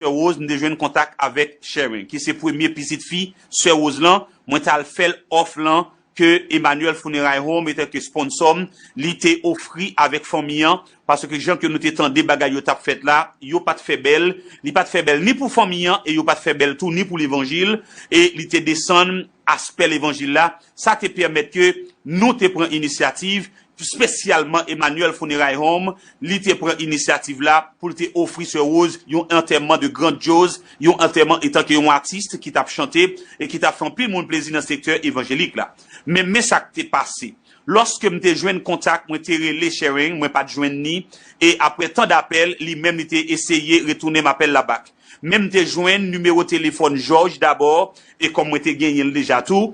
Sè Rose m te jwenn kontak avèk Sharon ki se premye pitit fi Sè Rose lan, mwen t al fèl òf lan ke Emmanuel Funeray Home etanke sponsò m li te ofri avèk fanmi an paske jan ke nou te tande bagay yo tap fèt la yo pat fè bèl, li pat fè bèl ni pou fanmi an e yo pat fè bèl tou ni pou levanjil e li te desann aspè levanjil la, sa te pèmèt ke nou te pran inisyativ, spesyalman Emmanuel Funeray Home, li te pran inisyativ la pou l te ofri Sè Woz yon antèman de grandyoz, yon antèman etanke yon atis ki t ap chante e ki t ap fè anpil moun plezi nan sektè evanjelik la. Men, men sa k te pase. Lòske m te jwenn kontak, mwen te rele Sharing, mwen pa t jwenn ni, e aprè tan dapèl, li menm li te eseye retounen m apèl la bak. Men m te jwenn nimewo telefòn Jòj dabò e kòm mwen te genyen l deja tou,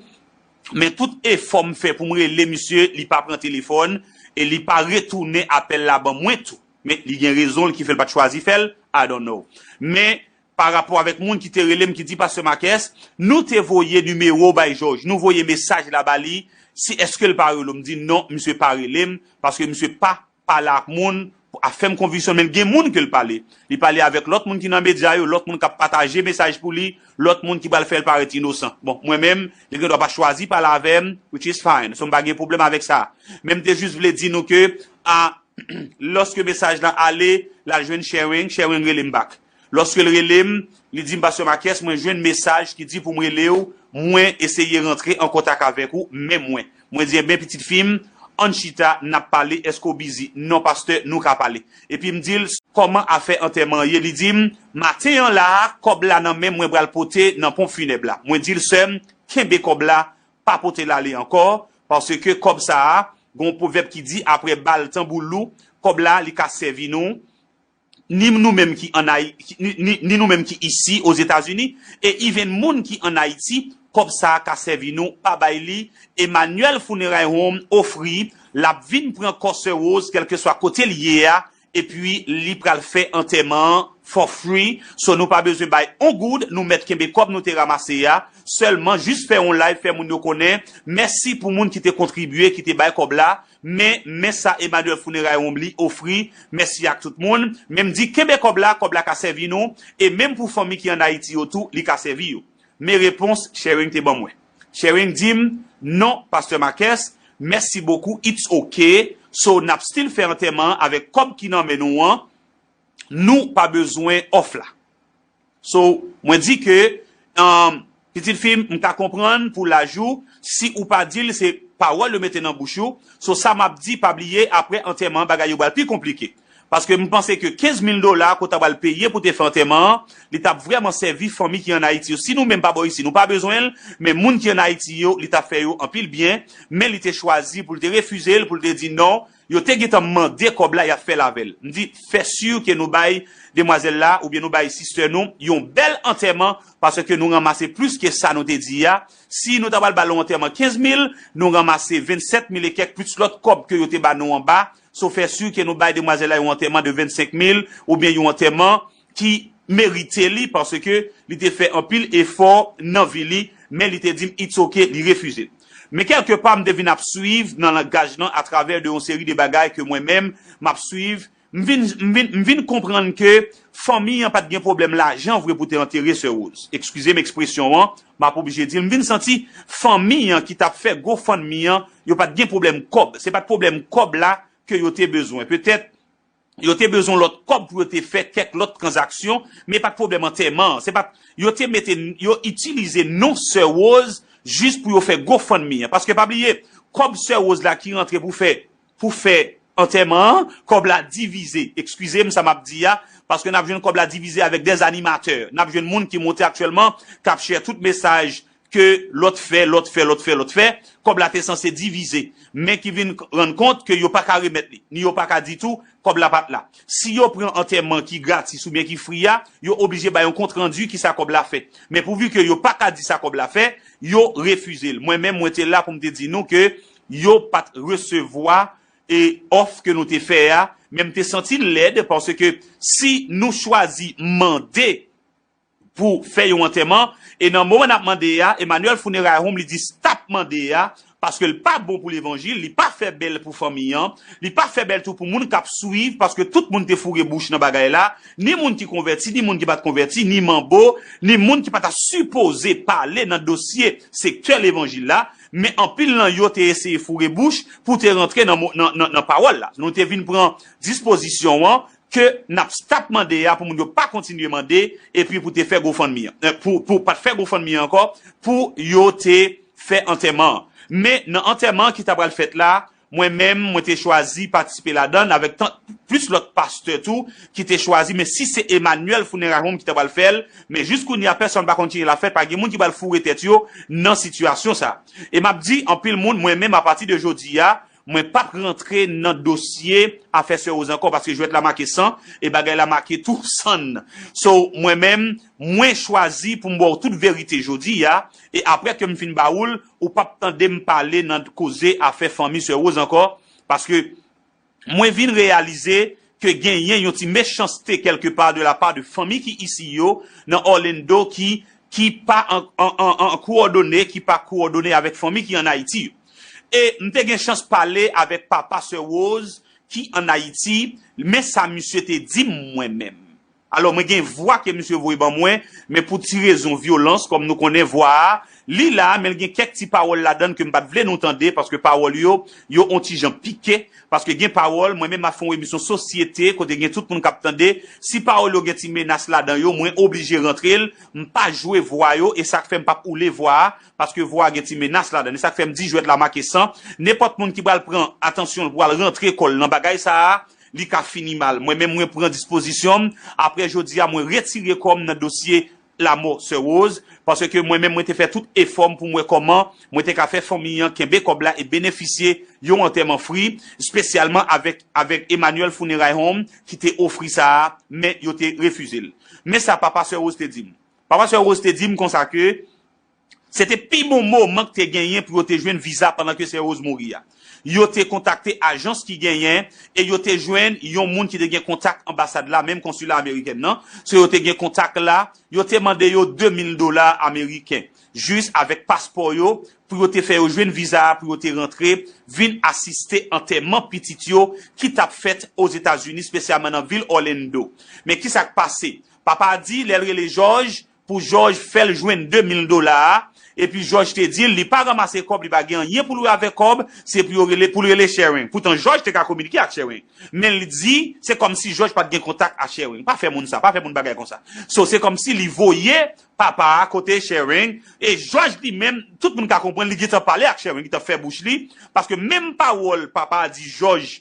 men tout efò m fè pou m rele misye li pa pran telefòn e li pa retounen apèl la ban mwen tou. Men li gen rezon l ki fè l pa t chwazi fè l, I don't know. Men pa rapò avèk moun ki te rele m ki di pastè Makès, nou te voye nimewo w bay Jòj, nou voye mesaj la ba li si èske l pa rele w. M di non, misye pa rele m paske misye pa pale ak moun, afèm konviksyon men gen moun ke l pale. Li pale avèk lòt moun ki nan medya yo, lòt moun k ap pataje mesaj pou li, lòt moun ki pral fè l parèt inosan. Bon, mwen menm, li gen dwa pa chwazi pale avè m, which is fine. So m pa gen pwoblèm avèk sa. Men m te jis vle di nou ke, a, lòske mesaj lan ale, l al jwenn Sherwing, Sherwing rele m back. Lòske l rele m, li di m, Pastè Marques, mwen jwenn mesaj ki di pou m rele w, mwen eseye rantre an kontak avèk ou, men mwen. Mwen di, Enben, pitit fi m, ann chita, n ap pale, èske w bizi? Non, pastè, nou ka pale. Epi m di l, Kòman afè antèman an ye? Li di m, Maten an la a, kòb la nan men m, mwen pral pote nan ponp finèb la. Mwen di l, Sè m, kenbe kòb la, pa pote l ale ankò, paske kòb sa a, gen yon pwovèb ki di, Apre bal tanbou lou, kòb la, li ka sèvi nou. ni nou menm ki an Ay, ni nou menm ki isi o Zetazini, e even moun ki an Ayiti, kòb sa a ka sèvi nou pa bay li, Emmanuel Funeray Home ofri l ap vin pran kò sè Rose kèlkeswa kote l ye a, epi li pral fè antèman an for free, so nou pa bezwen bay on goud, nou mèt kenbe kòb nou te ramase a, sèlman jis fè on live fè moun yo konnen, mèsi pou moun ki te kontribye, ki te bay kòb la. Men, men sa Emmanuel Funeray Wombly ofri, Mèsi ak tout moun, men m di kenbe kòb la, kòb la ka sèvi nou, e menm pou fanmi ki an Ayiti yo tou, li ka sèvi yo. Men repons Tchering te ban mwen. Tchering di m, Non, Pastè Marques, mèsi bokou, it's ok, so n ap still fè antèman an avèk kòb ki nan men nou an, nou pa bezwen òf la. So mwen di ke pitit fi m ka konprann pou laj ou si ou pa di l se pawòl yo mete nan bouch ou so sa map di pa bliye aprè antèman bagay yo pral pi konplike paske m panse ke 15 mil dola ke w ta pral peye pou te fè antèman an li tap vrèman sèvi fanmi ki an Ayiti yo si nou menm pa bò isi nou pa bezwen l men moun ki an Ayiti yo li ta fè yo anpil byen men li te chwazi pou l te refize l pou l te di non Yo te gentan mande kob la yap fel avel. M di fe sur ke nou bay demwazel la oubyen nou bay sister nou yon bel anteman paske nou ranmase plus ke sa nou te di a. Si nou ta pral bal yon anteman 15 mil nou ranmase 27 mil e kek plus lot kob ke yo te ba nou anba. So fe sur ke nou bay demwazel la yon anteman de 25 mil oubyen yon anteman. ki merite li paske li te fè anpil efò nan vi li men li te dim it's ok li refize men kèlke pa m te vin ap swiv nan langaj lan atravè de yon seri de bagay ke mwen menm m ap swiv m vin m vin m vin konprann ke fanmi an pat gen pwoblèm lajan vre pou te antere sè Rose ekskize m ekspresyon an m ap oblije di l m vin santi fanmi an ki t ap fè gofundme an yo pat gen pwoblèm kòb se pat pwoblèm kòb la ke yo te bezwen petèt Yo te bezwen lòt kòb pou yo te fè kèk lòt tranzaksyon, men pat pwoblèm antèman an. Se pat Yo te mete Yo itilize non sè Rose jis pou yo fè gofundme an. Paske pa bliye, kòb sè Rose la ki rantre pou fè pou fè antèman an, kòb la divize, ekskize m sa map di a, paske nap jwenn kòb la divize avèk dè animatè. Nap jwenn moun ki monte aktyèlman kap share tout mesaj ke lòt fè, lòt fè, lòt fè, lòt fè, kòb la te sanse divize, men ki vin rann kont ke yo pa ka remèt li, ni yo pa ka di tou kòb la pa t la. Si yo pran antèman ki gratis oubyen ki fri a, yo oblije bay yon kont randi ki sa kòb la fè. Men pouvi ke yo pa ka di sa kòb la fè, yo refize l. Mwen menm mwen te la pou m te di nou ke yo pa t resevwa e òf ke nou te fè a, men m te santi l lèd paske si nou chwazi mande, pou fè yon antèman e nan moman nap mande a Emmanuel funeray home li di stop mande a paske l pa bon pou levanjil li pa fè bèl pou fanmi an li pa fè bèl tou pou moun kap swiv paske tout moun te foure bouch nan bagay la ni moun ki konvèti ni moun ki pat konvèti ni manbo ni moun ki pa ta sipoze pale nan dosye sektè levanjil la men anpil nan yo te eseye foure bouch pou te rantre nan pawòl la nou te vin pran dispozisyon an ke nap stop mande a pou moun yo pa kontinye mande epi pou te fè gofundme an pou pat fè gofundme an ankò pou yo te fè antèman an men nan antèman an ki ta pral fèt la mwen menm mwen te chwazi patisipe ladann avèk tant plis lòt pastè tou ki te chwazi men si se Emmanuel funeral home ki ta pral fèl men jis kounye a pèsòn pa konn ki jan lap fèt pa gen moun ki pral foure tèt yo nan sitiyasyon sa e map di anpil moun mwen menm apati de jodi a Mwen pap rantre nan dosye afè sè Rose ankò paske jwèt la make san e bagay la make tou sann. So mwen menm mwen chwazi pou m ba w tout verite jodi a e aprè ke m fin ba ou l ou pap tande m pale nan koze afè fanmi sè Rose ankò paske mwen vin reyalize ke genyen yon ti mechanste kèlke pa de la pa de fanmi ki isi yo nan Orlando ki ki pa an an an kowòdone ki pa kowòdone avèk fanmi ki an Ayiti yo. E m te gen chans pale avèk papa sè Rose ki an Ayiti, men sa misye te di m mwen menm. Alò mwen gen vwa ke misye voye ban mwen, men pou ti rezon vyolans, kòm nou konnen vwa a, li la, men l gen kèk ti pawòl ladan l ke m pa t vle nou tande, paske pawòl yo, yo on ti jan pike, paske gen pawòl, mwen menm m ap fè on emisyon sosyete, kote gen tout moun k ap tande, si pawòl yo gen ti menas ladan yo, mwen oblije rantre l, m pa jwe vwa yo, e sa k fè m p ap oule vwa a, Paske vwa a gen ti menas ladan l. E sa k fè m di jwèt la make san. Nenpòt moun ki pral pran atansyon l pou al rantre kò l nan bagay sa a, li ka fini mal. Mwen menm mwen pran dispozisyon m, aprè jodi a mwen retire kò m nan dosye lamò Sè Rose, paske mwen menm mwen te fè tout efò m pou m wè kòman mwen te ka fè fanmi an kenbe kòb la e benefisye yon antèman fri, spesyalman avèk avèk Emmanuel Funeray Home ki te ofri sa a, men yo te refize l. Men sa papa Sè Rose te di m. Papa Sè Rose te di m konsa ke. Se te pi bon moman k te genyen pou yo te jwenn viza pandan ke sè Rose mouri a. Yo te kontakte ajans ki genyen e yo te jwenn yon moun ki te gen kontak anbasad la, menm konsila amerikèn nan, so yo te gen kontak la, yo te mande yo 2 mil dola ameriken jis avèk paspò yo pou yo te fè yo jwenn viza a pou yo te rantre vin asiste antèman pitit yo ki t ap fèt Ozetazini, spesyalman nan vil Orlando. Men kisa k pase? Papa a di lè l rele Jòj, pou jòj fèl jwenn 2 mil dola a epi jòj te dil li pa ranmase kòb li pa gen anyen poul wè avèk kòb se pou yo rele poul rele Sherwing poutan jòj te ka kominike ak Sherwing menl di se kòmsi jòj pat gen kontak a Sherwing pa fè moun sa pa fè moun bagay konsa so se kòmsi li voye papa a kote Sherwing e jòj li menm tout moun ka konprann li gentan pale ak Sherwing li gentan fè bouch li paske menm pawòl papa a di jòj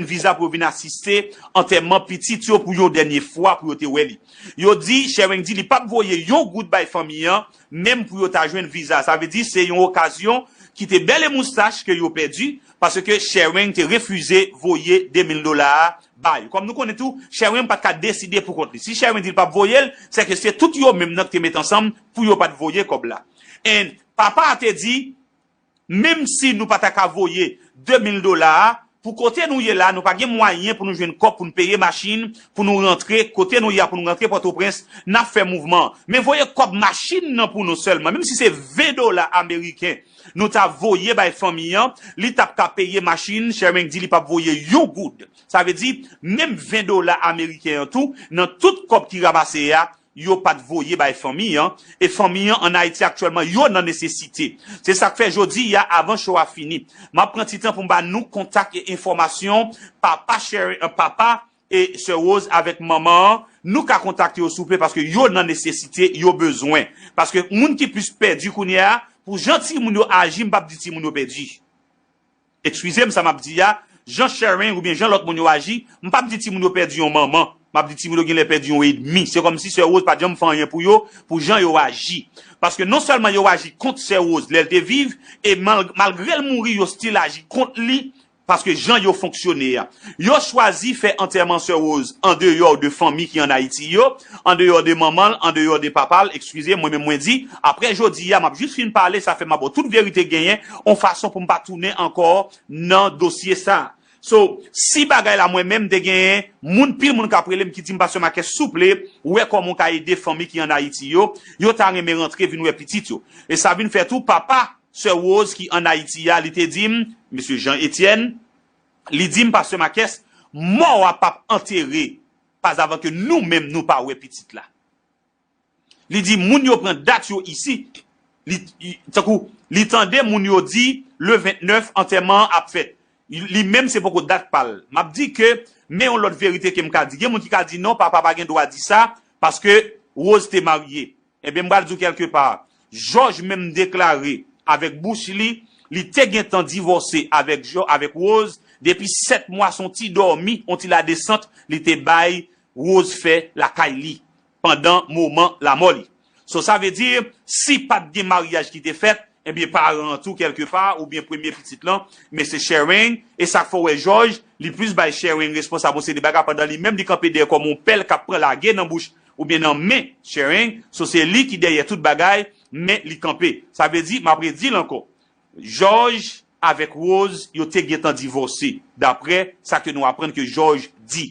jwenn viza pou yo vin asiste antèman pitit yo pou yon dènye fwa pou yo te wè li. Yo di Sherwing di li pap voye yon goud bay fanmi an menm pou yo ta jwenn viza sa vle di se yon okazyon ki te bèl e moustach ke yo pèdi paske Sherwing te refize voye 2 mil dola a ba yo kòm nou konnen tou Sherwing pat ka deside pou kont li si Sherwing di li pap voye l se ke se tout yo menm nan ki te met ansanm pou yo pat voye kòb la and papa a te di Menm si nou pa ta ka voye 2 mil dola a, pou kote nou ye la nou pa gen mwayen pou nou jwenn kòb pou nou peye machin pou nou rantre kote nou ye a pou nou rantre Pòtoprens, n ap fè mouvman. Men voye kòb machin nan pou nou sèlman, menm si se 20 dola ameriken nou ta voye bay fanmi an, li t ap ka peye machin, Sherming di li p ap voye yon goud. Sa vle di, menm 20 dola ameriken an tou, nan tout kòb ki ramase a, yo pa t voye bay fanmi an, e fanmi an ann Ayiti aktyèlman yo nan nesesite. Se sa k fè jodi a, avan show a fini, m ap pran ti tan pou m ba nou kontak e enfòmasyon papa Sherry an, papa e sè Rose avèk manman an, nou ka kontakte yo souple paske yo nan nesesite, yo bezwen. Paske moun ki plis pèdi kounye a, pou jan timoun yo aji m p ap di timoun yo pèdi. Ekskize m sa m ap di a, jan Sherine oubyen jan lòt moun yo aji, m pap di timoun yo pèdi yon manman, m ap di timoun yo genlè pèdi yon edmi. Se kòmsi sè Rose pat janm fè anyen pou yo, pou jan yo aji. Paske non sèlman yo aji kont sè Rose lè l te viv, e malgre l mouri yo stil aji kont li paske jan yo fonksyone a. Yo chwazi fè antèman sè Rose andeyò de fanmi ki an Ayiti yo. Andeyò de manman l, andeyò de papa l, ekskize, mwen menm mwen di, aprè jodi a, m ap jis fin pale, sa fè m ap bo tout verite genyen, on fason pou m pa tounen ankò nan dosye sa. So, si bagay la mwen menm, m te genyen moun, pil moun k ap rele m ki di m, Pastè Makès, souple, wè kòman ou ka ede fanmi ki an Ayiti yo, yo ta renmen rantre vin wè pitit yo. E sa vin fè tou, papa Sè Woz ki an Ayiti a, li te di m, Mesye Jan Etyèn, li di m, Pastè Makès, mò a p ap antere pas avan ke nou menm nou pa wè pitit la. Li di moun yo pran dat yo isi, li tankou li tande moun yo di le 29 antèman an ap fèt. Li menm se poko dat pa l. M ap di ke men yon lòt verite ke m ka di. Gen moun ki ka di non papa pa gen dwa di sa paske Rose te marye. Ebyen m pral di w kèlke pa, Jòj menm deklare avèk bouch li, li te gentan divòse avèk Jò, avèk Woz, depi 7 mwa son ti dòmi, on ti ladesant li te bay Woz fè lakay li pandan moman lamò li. So sa vle di, si pat gen maryaj ki te fèt, Ebyen paran an tou kèlke pa oubyen premye pitit lan men se Shereng e sak fè w wè Jòj li plis bay Shereng responsab yon seri de bagay pandan li menm li kanpe dèyè kòm yon pèl kap pran lage nan bouch oubyen nan men Shereng so se li ki dèyè tout bagay men li kanpe sa vle di map redi l ankò Jòj avèk Rose yo te gentan divòse daprè sa ke nou aprann ke Jòj di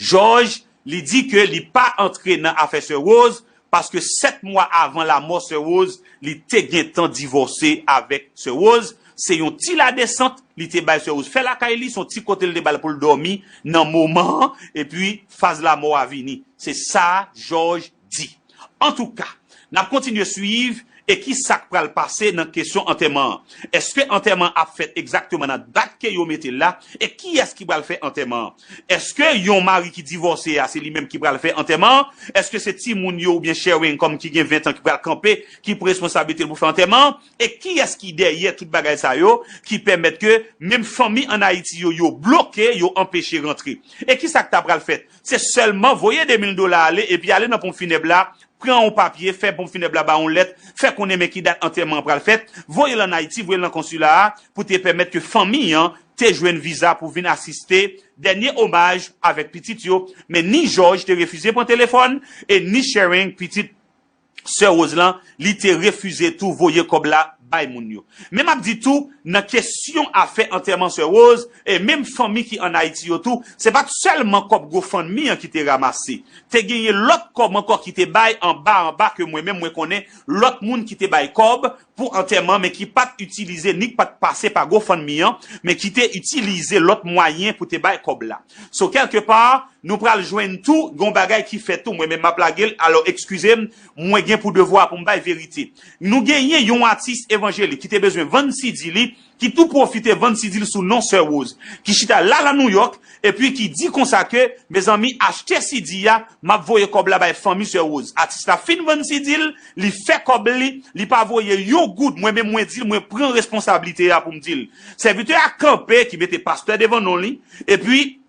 Jòj, li di ke li pa antre nan afè Sè Woz paske 7 mwa avan lamò Sè Woz, li te gentan divòse avèk Sè Woz, se yon ti ladesant li te bay Sè Woz fè lakay li, se yon ti kote li te ba l pou l dòmi nan moman an, epi faz lamò a vini. Se sa Jòj di. Antouka, n ap kontinye suiv e ki sa k pral pase nan kesyon antèman an. Èske antèman an ap fèt egzakteman nan dat ke yo mete l la e kiyès ki pral fè antèman an? Èske yon mari ki divòse a se li menm ki pral fè antèman an? Èske se timoun yo oubyen Sherwin kòm ki gen 20 an ki pral kanpe ki pou responsablite l pou fè antèman an? E kiyès ki dèyè tout bagay sa yo ki pèmèt ke menm fanmi an Ayiti yo yo bloke, yo anpeche rantre? E ki sa k ta pral fèt Se sèlman voye 2000 dola ale epi ale nan ponp finèb la, pran yon papye, fè ponp finèb la ba w yon lèt, fè konnen men ki dat antèman an pral fèt, voye l ann Ayiti, voye l nan konsila a pou te pèmèt ke fanmi an te jwenn viza pou vin asiste dènye omaj avèk pitit yo. Men ni Jòj te refize pran telefòn e ni Sharing, pitit sè Rose lan li te refize tou voye kòb la bay moun yo. Men map di tou nan kesyon afè antèman sè Rose e menm fanmi ki an Ayiti yo tou se pat sèlman kòb gofundme an ki te ramase te genyen lòt kòb ankò ki te bay anba anba ke mwen menm mwen konnen lòt moun ki te bay kòb pou antèman men ki pat itilize ni k pat pase pa GoFundMe an men ki te itilize lòt mwayen pou te bay kòb la. So kèlke pa nou pral jwenn tou gen yon bagay ki fèt tou mwen menm map lage l alò ekskize m mwen gen pou devwa pou m bay verite. Nou genyen yon atis evanjelik ki te bezwen vann CD li ki tou pwofite vann sidi l sou non Sè Woz, ki chita la lan Nouyòk, epi ki di konsa ke, Mezanmi, achte sidi a, m ap voye kòb la bay fanmi Sè Woz. Atis la fin vann sidi l, li fè kòb li, li pa voye yon goud, mwen menm mwen di l, mwen pran responsablite a pou m di l. Sèvitè a kanpe, ki mete pastè devan non li, epi.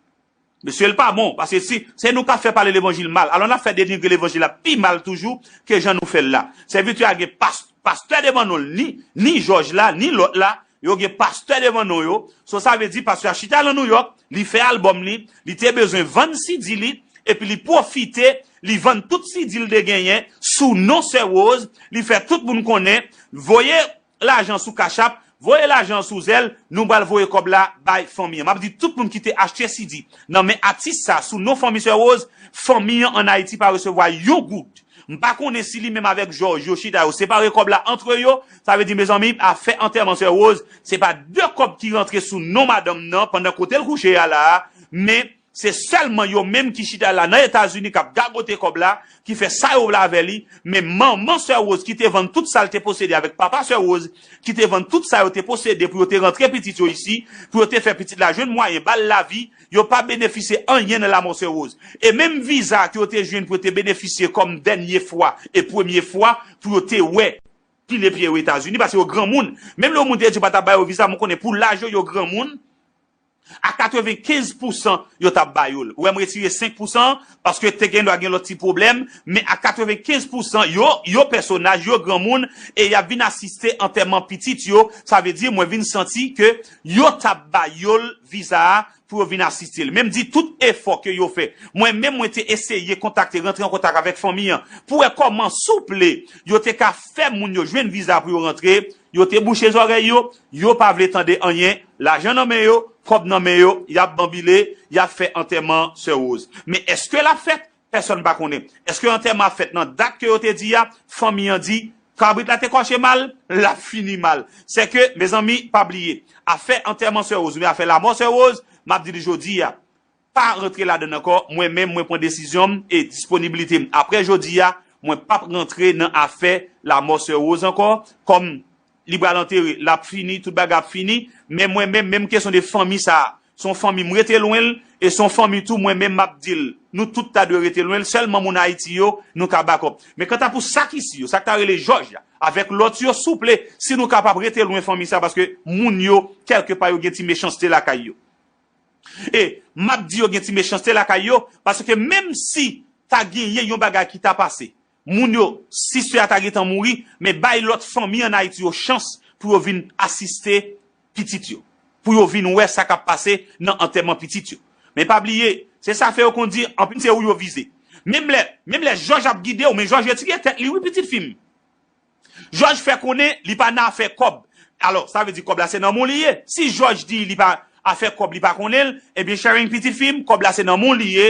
Mesye l pa bon paske si se nou kap fè pale levanjil mal alò nap fè denigre levanjil la pi mal toujou ke jan nou fèl la sèvitè a gen pas pastè devan non l ni ni jòj la ni lòt la yo gen pastè devan non yo so sa vle di pastè a chita lan nouyòk li fè albòm li li te bezwen vann CD li epi li pwofite li vann tout CD l te genyen sou non sè woz li fè tout moun konnen voye lajan sou cash app voye lajan sou zelle nou bal voye kob la bay fanmi an map di tout moun kite achte CD nan men atis sa sou non fanmi sè rose fanmi an an ayiti pa resevwa yon goud mpa konnen si li menm avek jòj yo chita yo separe kob la antre yo sa vle di mezanmi afè antèman sè rose se pa de kob ki rantre sou non madanm nan pandan kotel kouche a la men Se sèlman yo menm ki chita la nan etazini kap gagote kòb la, ki fè sa yo vle avè li, men manman sè Rose ki te vann tout sal te posede avèk papa sè Rose ki te vann tout sa yo te posede pou yo te rantre pitit yo isi, pou yo te fè pitit la jwenn mwayen bal lavi, yo pa benefisye anyen nan lamò sè Rose. E menm viza ke yo te jwenn pou yo te benefisye kòm dènye fwa e premye fwa pou yo te wè, pile pye yo etazini, pase yo granmoun, menm lè yon moun te di yo pa ta ba yo viza, mwen konnen pou laj yo, yo granmoun, A 95 pousan yo tap ba yo l. Ou wè m retire 5 pousan an paske te gendwa gen lòt ti pwoblèm men a 95 pousan yo, yo pèsonaj, yo granmoun e y ap vin asiste antèman pitit yo, sa vle di mwen vin santi ke yo tap ba yo l viza a pou yo vin asiste l. Men m di tout efò ke yo fè. Mwen menm mwen te eseye kontakte, rantre an kontak avèk fanmi an pou wè kòman souple yo te ka fè moun yo jwenn viza pou yo rantre, Yo te bouche zòrèy yo, yo pa vle tande anyen, lajan nan men yo, kòb nan men yo, y ap banbile, y ap fè antèman Sè Woz. Men èske l ap fèt? Pèsòn pa konnen. Èske antèman ap fèt nan dat ke yo te di a? Fanmi an di, Kabrit la te kòche mal, l ap fini mal. Sèke, mezanmi, pa bliye, afè antèman Sè Woz oubyen afè lamò Sè Woz, m ap di l jodi a, pa rantre ladann ankò, mwen menm mwen pran desizyon m e disponibilite m aprè jodi a, mwen pap rantre nan afè lamò sè Rose ankò, kòm li pral antere, lap fini, tout bagay ap fini, men mwen menm, menm kesyon de fanmi sa, se yon fanmi m rete lwen l, e se yon fanmi tou mwen menm map di l, nou tout ta dwe rete lwen l, sèlman moun Ayiti yo nou ka bakòp. Men kanta pou sa k isi yo, sa k ta rele Jòj la, avèk lòt yo, souple, si nou kapab rete lwen fanmi sa paske moun yo, kèlke pa yo gen ti mechanste lakay yo. E, m ap di yo gen ti mechanste lakay yo, paske menm si ta genyen yon bagay ki ta pase, moun yo, si sè a ta gentan mouri, men bay lòt fanmi ann Ayiti yo chans pou yo vin asiste pitit yo, pou yo vin wè sa k ap pase nan antèman pitit yo. Men pa bliye, se sa fè yo konn di, anpil se ou yo vize. Menm lè, menm lè Jòj ap gide w, men Jòj retire tèt li wi pitit fi m. Jòj fè konnen li pa nan afè kòb. Alò, sa vle di kòb la se nanm ou li ye. Si Jòj di li pa afè kòb li pa konnen l, ebyen Sharing pitit fi m, kòb la se nanm ou li ye,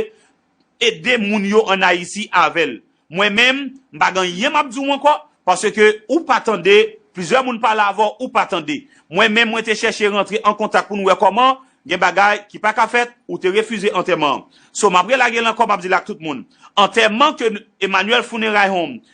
ede moun yo an Ayiti avè l. Mwen menm, m pa gen anyen m ap di w ankò, paske ou pa tande, plizyè moun pale avè w, ou pa tande. Mwen menm mwen te chèche rantre an kontak pou nou wè kòman, gen bagay ki pa ka fèt, ou te refize antèman an. So m ap relage l ankò, m ap di l ak tout moun, antèman ke Emmanuel Funerai Home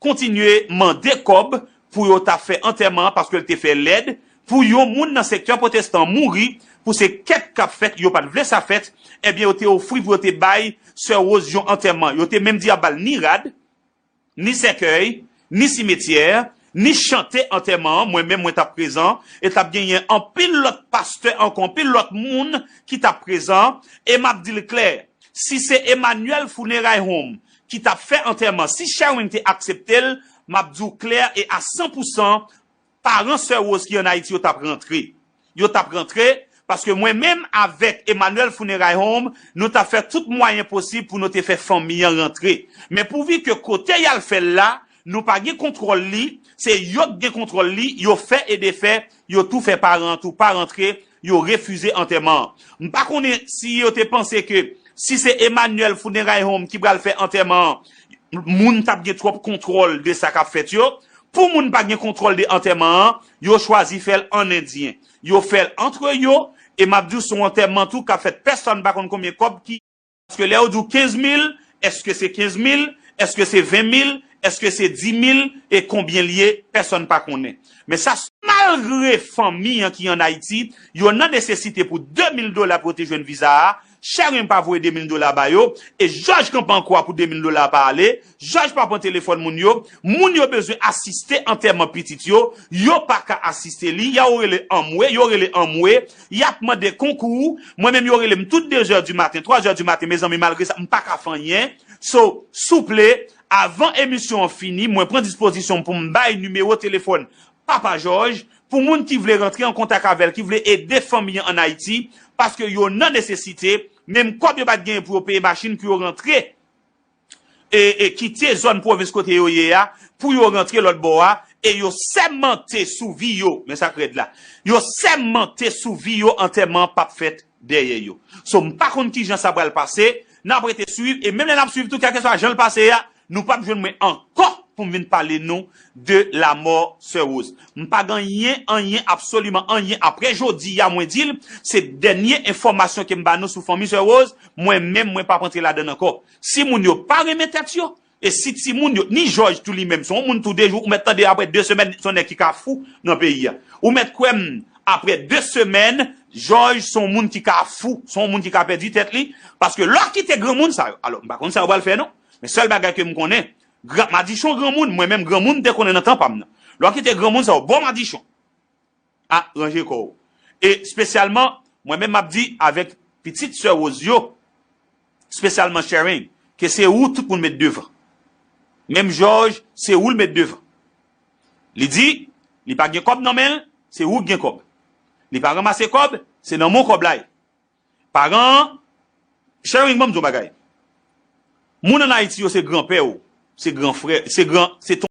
kontinye mande kòb pou yo ta fè antèman an paske l te fè lèd pou yon moun nan sektè pwotestan mouri pou se kep kap fèt yo pat vle sa fèt ebyen yo te ofri pou yo te bay sè Rose yon antèman yo te menm di yap bal ni rad ni sèkèy ni simetyè ni chante antèman an mwen menm mwen tap prezan e tap genyen anpil lòt pastè ankò anpil lòt moun ki tap prezan e map dil klè si se Emmanuel funeray home ki tap fè antèman si Sherwin te akseptel map diw klè e a 100 pou 100 paran sè Rose ki an Ayiti yo tap rantre yo tap rantre paske mwen menm avèk Emmanuel Funeray Home nou tap fè tout mwayen posib pou nou te fè fanmi an rantre men pouvi ke kote yal fèl la Nou pa gen kontwòl li, se yo k gen kontwòl li, yo fè e defè, yo tou fè paran an tou pa rantre, yo refize antèman an. M pa konnen si yo te panse ke si se Emmanuel Funeray Home ki pral fè antèman an, moun t ap gen twòp kontwòl de sa k ap fèt yo. Pou moun pa gen kontwòl de antèman an, yo chwazi fè l an endyen. Yo fè l antre yo, e m ap di w se yon antèman tou k ap fèt pèsòn pa konn konbyen kòb ki. Paske lè yo di w 15 mil, èske se 15 mil, èske se 20 mil, èske se 10 mil, e konbyen l ye, pèsòn pa konnen. Men sa. Malgre fanmi an ki an Ayiti, yo nan nesesite pou 2 mil dola pou yo te jwenn viza a, Sharon pa voye 2 mil dola ba yo, e jòj kanpe an kwa pou 2 mil dola a pa ale, Jaj pa pran telefòn moun yo, moun yo bezwen asiste antèman pitit yo, yo pa ka asiste li, ya ou rele anmwe, yo rele anmwe, yap mande konkou, mwen menm yo rele m tout 2 zè di maten, 3 zè di maten mezanmi malgre sa m pa ka fè anyen, so souple avan emisyon an fini mwen pran dispozisyon m pou m bay nimewo telefòn Papa Jòj pou moun ki vle rantre an kontak avè l ki vle ede fanmi an an Ayiti paske yo nan nesesite menm kòb yo pat genyen pou yo peye machin pou yo rantre kite zòn pwovens kote yo ye a pou yo rantre lòt bò a e yo sèmante sou vi yo, men sa k rèd la, yo sèmante sou vi yo antèman an pap fèt dèyè yo. So m pa konn kijan sa pral pase, n ap rete swiv e menm lè n ap swiv tou kèlkeswa jan l pase a, nou pap jwenn mwen ankò pou m vin pale nou de la mort sè Rose. M pa gan yen anyen absoliman anyen aprè jodi ya mwen dil se dènye enfòmasyon kem ba nou sou fanmi sè Rose mwen menm mwen pap antre ladann ankò si moun yo pa renmen tèt yo e si ti moun yo ni jòj tou li menm se yon moun tou de jou ou mèt tande aprè de semèn se yon nèg ki ka fou nan peyi ya ou mèt kwèm aprè de semèn jòj se yon moun ki ka fou se yon moun ki ka pèdi tèt li paske lè w kite granmoun sa yo alò m pa konn sa yo pral fè non men sèl bagay kem konnen Gran, madichon granmoun, mwen menm granmoun m te konnen nan tan pa m nan. Lè w kite granmoun sa yo bò madichon. A, ranje kò w. E, spesyalman, mwen menm m ap di avèk pitit sè Rose yo, spesyalman Sherine, ke se ou tout moun met devan. Menm Jòj, se ou l met devan. Li di, li pa gen kòb nan men l, se ou k gen kòb. Li pa ranmase kòb, se nan men w kòb la ye. Paran an Sharing banm di yon bagay Moun an Ayiti yo se gran pè ou se gran frè se gran se ton.